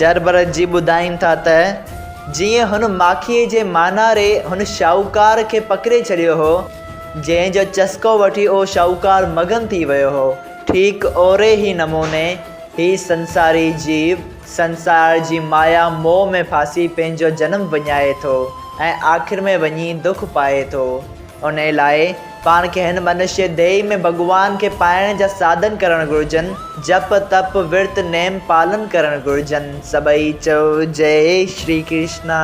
جربرجي ٻڌائين ٿا ته جيئن هن ماکيء جي ماناري هن شاهوڪار کي پڪڙي ڇڏيو هو، جنهن جو چسڪو وٺي اهو شاهوڪار مگن ٿي ويو هو، ٺيڪ اهڙي ئي نموني هي سنساري جيو، سنسار جي مايا موهه ۾ ڦاسي پنهنجو جنم وڃائي ٿو ۽ آخر ۾ وڃي دک پائي ٿو. انهيء لاء پاڻ کي هن منشيه ديهي ۾ ڀڳوان کي پائڻ جا ساڌن ڪرڻ گهرجن، جپ، تپ، ورت، نيم پالن ڪرڻ گهرجن. سڀئي چئو جئي شري ڪرشنا.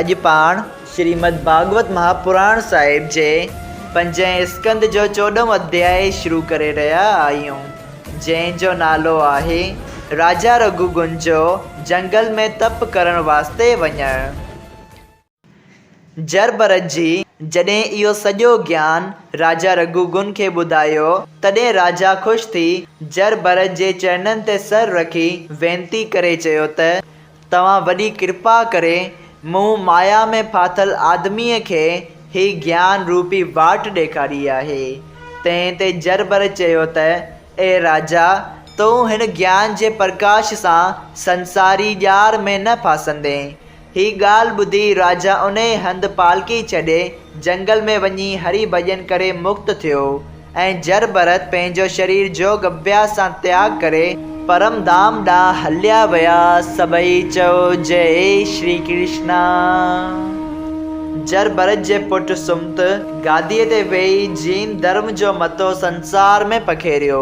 اڄ پاڻ شريمد ڀاڳوت مهاپراڻ صاحب جي پنجين اسڪنڌ جو چوڏهون اڌياء شروع ڪري رهيا آهيون، جنهن جو نالو آهي، راجا رگهوگن جو جنگل ۾ تپ ڪرڻ واسطي وڃڻ. جربرج جي جڏهن اهو سڄو گيان راجا رگهوگن کي ٻڌايو، تڏهن راجا خوش ٿي جربرج جي چرنن تي سر رکي وينتي ڪري چيو ته، توهان وڏي ڪرپا ڪري مون مايا ۾ ڦاٿل آدميء کي هي گيان روپي واٽ ڏيکاري آهي. تنهن تي جربرج چيو ته، اي راجا! تون هن گيان جي پرڪاش سان سنساري ڄار ۾ نه ڦاسندين، هي ڳالهه ٻڌي راجا انهيء هنڌ پالڪي ڇڏي جهنگل ۾ وڃي هري ڀڄن ڪري مڪت ٿيو ۽ جر ڀرت پنهنجو شرير جوڳ اڀياس سان تياڳ ڪري پرم ڌام ڏانهن هليا ويا. سڀئي چئو جئي شري ڪرشنا. جر ڀرت جي پٽ سمت گاديء تي ويهي جين ڌرم جو متو سنسار ۾ پکيڙيو.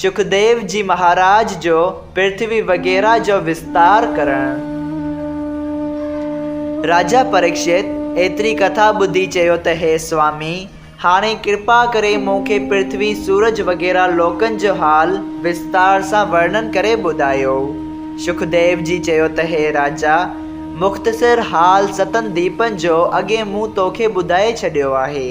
شڪديو جي مهاراج جو پرٿوي وغيره جو وستار ڪرڻ. راجا پريڪشت ايتري ڪٿا ٻڌي چيو ته هي سوامي، هاڻي ڪرپا ڪري مون کي پرٿوي، سورج وغيره لوڪن جو حال وستار سان ورنن ڪري ٻڌايو. شڪديو جي چيو ته هي راجا، مختصر حال ستن ديپن جو اڳي مون توکي ٻڌائي ڇڏيو آهي.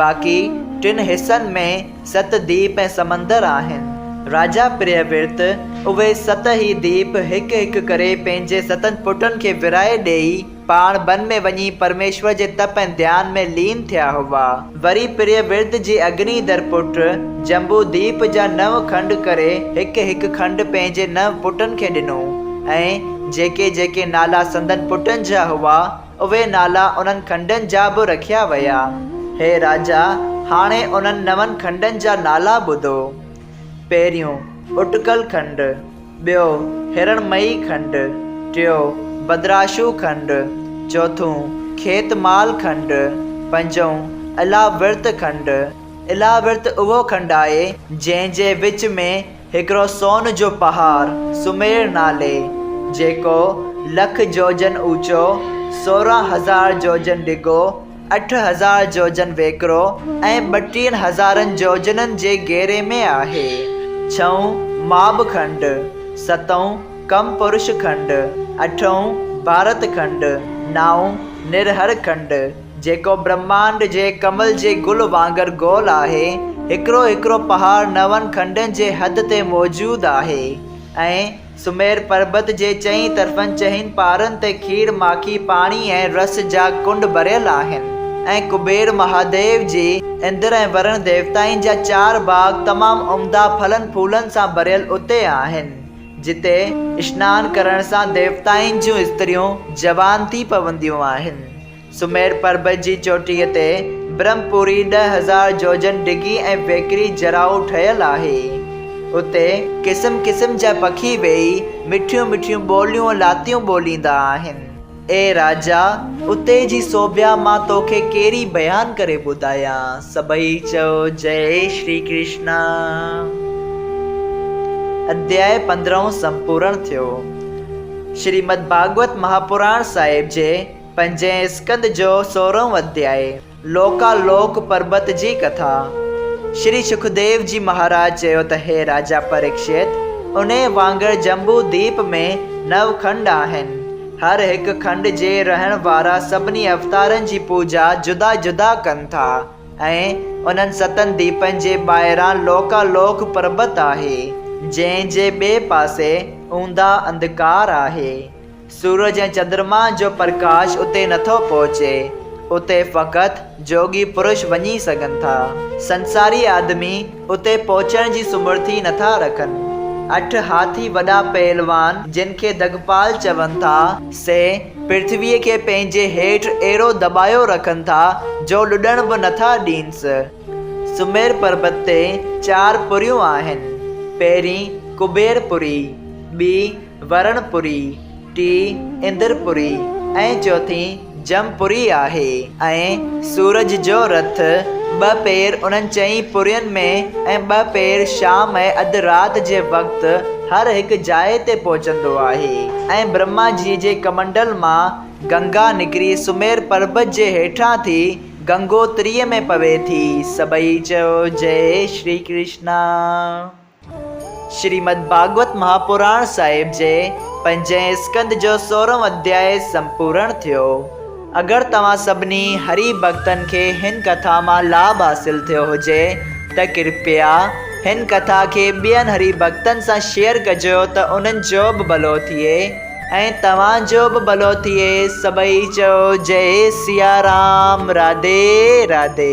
باقي ٽن حصن ۾ ست ديپ ۽ سمندر آهن. راجا پريا ورت اهي ست ئي ديپ هڪ هڪ ڪري پنهنجي ستن پٽن کي ورهائي ڏيئي پاڻ بن ۾ وڃي پرميشور جي تپ ۽ ڌيان ۾ لين ٿيا هئا. وري پريا ورت جي اگني در پٽ جمبو ديپ جا نو کنڊ ڪري هڪ هڪ کنڊ پنهنجي نو پٽن کي ڏنو ۽ جيڪي جيڪي نالا سندن پٽن جا هئا اهي نالا انهن کنڊن جا به رکيا ويا. هي راجا، هاڻي انهن نون کنڊن جا نالا ٻڌو. پهريون، اٽڪل کنڊ، ٻيو، هرڻمئي کنڊ، ٽيون، بدراشو کنڊ، چوٿون، کيت مال کنڊ، پنجون، الاورت کنڊ، الاورت اهو کنڊ آهي، جنهن جي وچ ۾. هڪڙو سون جو پهاڙ سمير نالي جيڪو لک جوجن اوچو، سورهن هزار جوجن ڊگهو، اٺ هزار جوجن ويڪرو ۽ ٻٽيهن هزارن جوجنن جي گهيري ۾ آهي. ڇهون ماب کنڊ، ستون ڪم پرش کنڊ، اٺون ڀارت کنڊ، نائون نرهر کنڊ، جيڪو برهمانڊ جي ڪمل جي گل وانگر گول آهي. هڪڙو هڪڙو پهاڙ نون کنڊن جي حد تي موجود آهي ۽ سمير پربت جي چئين طرفن چئن پارن تي کير ماکي پاڻي ۽ رس جا ڪنڊ ڀريل آهن ۽ ڪبير مهاديو جي اندر ۽ ورڻ ديوتائن جا چار باغ تمام عمدا ڦلن ڦولن سان ڀريل اتي آهن جتي اشنان ڪرڻ سان ديوتائن جون استريون جوان ٿي پونديون آهن سمير پربت جي چوٽيء تي برهم پوري ڏهه هزار جوجن ڊگهي ۽ ويڪري جراء ٺهيل آهي. اتي قسم قسم جا پکي ويهي مٺيون مٺيون ٻوليون لاتيون ٻوليندا آهن. اي راجا! اتي جي سوڀيا مان توکي ڪيري بيان ڪري ٻڌايان. سڀئي چئو جئي شري ڪرشنا. اڌياء پندرهون سمپورڻ ٿيو. شريمد ڀاڳوت مهاپراڻ صاحب جي پنجين اسڪند جو سورهون اڌيائي، لوڪا لوڪ پربت جي ڪٿا. شري شڪديو جي مهاراج چيو ته هي راجا پريڪشيت، انهيء وانگر جمبو ديپ ۾ نو کنڊ آهن. هر هڪ کنڊ جي رهڻ وارا سڀني اوتارن جي پوڄا جدا جدا ڪن ٿا ۽ انهن ستن ديپن جي ٻاهران لوڪا لوڪ پربت آهي، جنهن جي ٻئي پاسي اونداهه انڌڪار آهي. سورج ۽ چندرمان جو پرڪاش اتي نٿو پهچي، اتي فقط جوڳي پرش وڃي سگهن ٿا. سنساري آدمي اتي پهچڻ جي سمرٿي نٿا رکن. اٺ هاٿي وڏا پهلوان جن کي دگپال چون ٿا، سي پرٿويء کي پنهنجي هيٺ اهڙو دٻايو رکن ٿا جو لڏڻ به نٿا ڏينس. سمير پربت تي چار پريون آهن، پهرين ڪبير پري، ٻي ورڻ پوري، ٽي اندر پوري ۽ چوٿين جم پوري آهي ۽ سورج جو رٿ ٻه پير انهن چئين پورين ۾ ۽ ٻه پير شام ۽ اڌ رات جي وقت هر هڪ جاء تي پهچندو آهي ۽ برهما جي جي ڪمنڊل مان گنگا نڪري سمير پربت جي هيٺان ٿي گنگوتري ۾ پوي ٿي سڀئي چئو جئي شري ڪرشنا. شريمد ڀاڳوت مهاپراڻ صاحب جي پنجين اسڪنڌ جو سورهون اڌياء سمپورڻ ٿيو. اگر توهان سڀني هري ڀڳتن کي هن ڪٿا مان لاڀ حاصل ٿيو هجي ته ڪرپيا هن ڪٿا کي ٻين هري ڀڳتن سان شيئر ڪجو ته انهن جو به ڀلو ٿئي ۽ توهان جو به ڀلو ٿئي سڀئي چئو جئي سيارام راڌي راڌي.